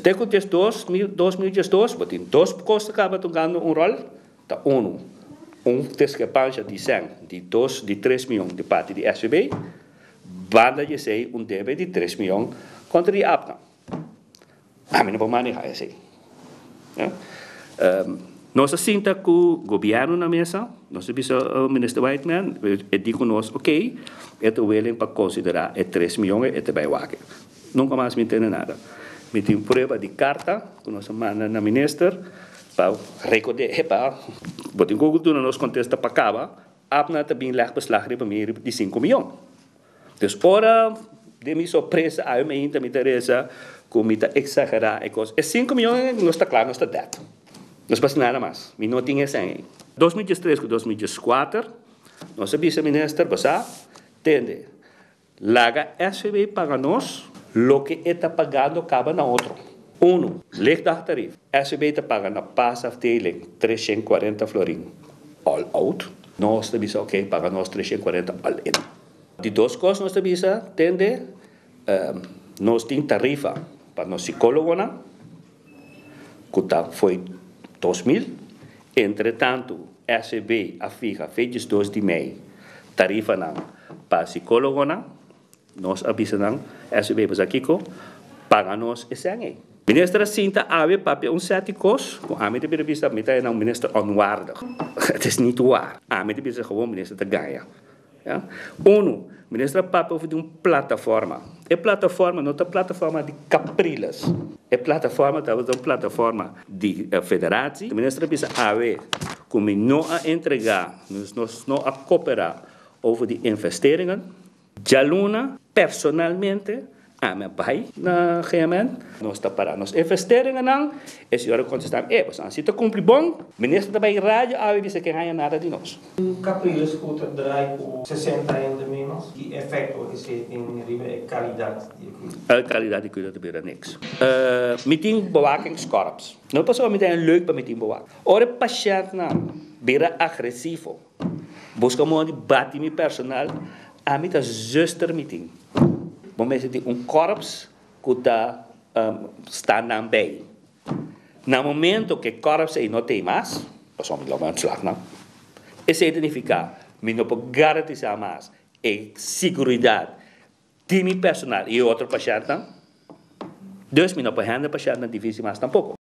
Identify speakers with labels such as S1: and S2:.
S1: Desde cu dies dos mil dos mil diesdos bo tin dos cos ta caba tungando un rol ta uno un discrepancia di cen di dos di tres mion di parti di SVB banda di esey un debe di tres mion contra di Abcam. Ami no por maneha esey. Nos a sinta cu gobierno na mesa nos a bisa Minister Wightman e di cu nos ok e ta willing pa considera e tres mion e ta bay wak. Nunka mas mi tene nada. Mi tin prueba di karta ku nos a manda na minister pa rekord'é epa, bo tin Google duna nos kontesta pa kaba, Abner ta bin lèg beslag riba mi riba di sinku miyon. Dus ora den mi sorpresa ayo mainta mi ta resa ku mi ta eksagerá e kos. E sinku miyon ei nos ta kla nos ta dèt. Nos pa hasi nada mas. Mi no tin esei ei. Dos mi diestres ku dos mi dieskuater nos a bisa minister, Basá, tende, Laga SVB paga nos loke e ta pagando kaba na otro. Uno, Lichtdagtarief, SVB ta paga na paasafdeling treshent kuarenta florin all-out, nos ta bisa oké paga nos treshent kuarenta all-in. Di dos kos nos ta bisa tende nos tin tarifa pa nos sikólogonan. cu ta fo'i dos mil. Entretantu, SEB a fiha fe diesdos di mei tarifanan pa psicologonan. Nos a bisa nan, SEB bisa kico? Paga nos e sèn ei. Minister a sinta awe papia un sèti cos cu ami ta bira bisa, mi ta e nan un minister onwaardig. Het is niet waar. Ami ta bisa, gewoon minister ta gaña. Unu, Minister a papia over di un plataforma. E plataforma no ta plataforma di Capriles. E plataforma tabata un plataforma di Federatie. E Minister a bisa, Awe cu mi no a entrega, nos no a coopera over di investeringen. Djaluna personalmente A mi a bai na GMN. Nos ta para nos investeringennan. E señor a contestam, E, boso a hasi ta cumpli bon. Minister ta bay radio awe bisa ke haya nada di nos. Un Capriles cu ta
S2: draai cu sesenta hende menos, ki efecto esey tin riba e calidad
S1: di e cuida? E calidad di cuida ta bira niks. E, mi tin bewakingskorps. No pasobra mi ta haya leuk pa mi tin bewaking. Ora e patiëntnan bira agresivo. Busca moda di bati mi personal, ami ta zuster mi tin. Bo mester tin un korps cu ta sta nan bay. Na momento cu e korps ey no ta ey mas, pasobra mi lo bay ontslag nan, esey ta nifica mi no por garantisa mas e siguridad di mi personal y e otro pashentnan, dus mi no por hende pashentnan difícil mas tampoco.